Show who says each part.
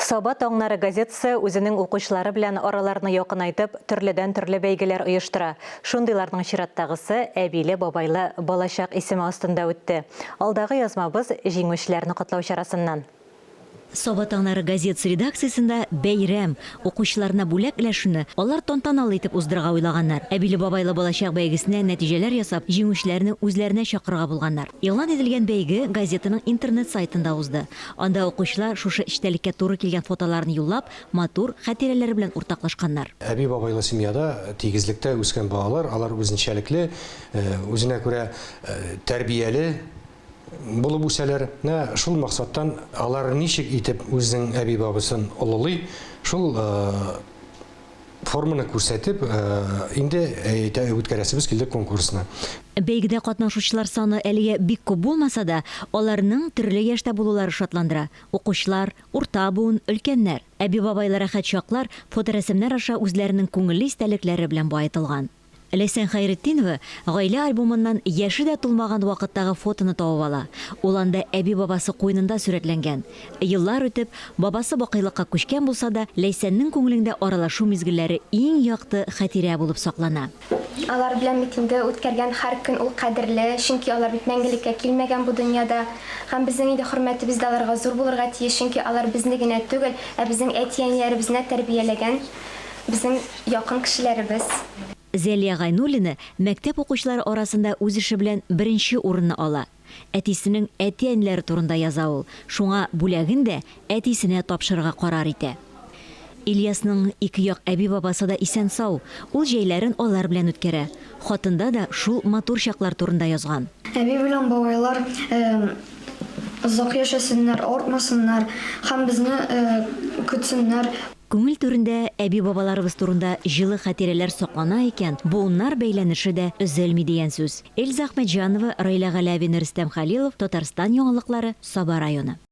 Speaker 1: Саба таңнары газетасы үзенең укучылары белән араларны якынайтып, төрледән-төрле бәйгеләр оештыра. Шундыйларның чираттагысы Әбиле-бабайлы балачак исеме астында үтте. Алдагы язмабыз, җиңүчеләрне котлау чарасыннан. Саба
Speaker 2: таңнары газетасы редакциясендә бәйрәм, укучыларына бүләк өләшүне алар тантаналы итеп уздырырга уйлаганнар. Әбиле-бабайлы балачак бәйгесенә нәтиҗәләр ясап, җиңүчеләрне үзләренә чакырырга булганнар. Игълан ителгән бәйге газетаның интернет-сайтында узды. Анда укучылар шушы эчтәлеккә туры килгән фотоларын юллап, матур хатирәләре белән уртаклашканнар. Әби-бабайлы семьяда,
Speaker 3: тигезлектә үскән балалар, алар үзенчәлекле, үзенә күрә тәрбияле булып үсәләр. Менә шул максаттан алар ничек итеп үзенең әби-бабасын олылый, шул Форманы күрсәтеп, инде үткәрәсебез килде конкурсны. Бәйгедә
Speaker 2: катнашучылар саны әлегә бик күп булмаса да, аларның төрле яшьтә булулары шатландыра, укучылар, урта буын, өлкәннәр. Әби-бабайлы рәхәт чаклар фоторәсемнәр аша үзләренең күңелле истәлекләре белән баетылган. Ләйсән Хәйретдинова гаилә альбомыннан яше дә тулмаган вакыттагы фотоны табып ала. Ул анда әби-бабасы куенында сурәтләнгән. Еллар үтеп, бабасы бакыйлыкка күчкән булса да, Ләйсәннең күңелеңдә аралашу мизгелләре иң якты хәтирә булып саклана. Алар белән
Speaker 4: бит инде үткәргән һәр көн ул кадерле, чөнки алар бит мәңгелеккә килмәгән бу дөньяда. Һәм безнең инде хөрмәтебез дә аларга зур булырга тиеш, чөнки алар безне генә түгел, ә безнең әти-әниләребезне дә тәрбияләгән. безнең якын кешеләребез. Зәлия
Speaker 2: Гайнуллина мәктәп укучылары арасында үз эше белән беренче урынны ала. Әтисенең әти-әниләре турында яза ул, шуңа бүләген дә әтисенә тапшырырга карар итә. Ильясның ике як әби-бабасы да исән-сау, ул җәйләрен алар белән үткәрә. Хатында да шул матур чаклар турында язган. Әби белән бабайлар
Speaker 5: озак яшәсеннәр, авыртмасыннар һәм безне көтсеннәр. Күңел түрендә
Speaker 2: әби-бабаларыбыз турында җылы хатирәләр саклана икән, буыннар бәйләнеше дә өзелми дигән сүз. Эльза Әхмәтҗанова, Раилә Галәвина, Рөстәм Хәлилов, Татарстан яңалыклары, Саба районы.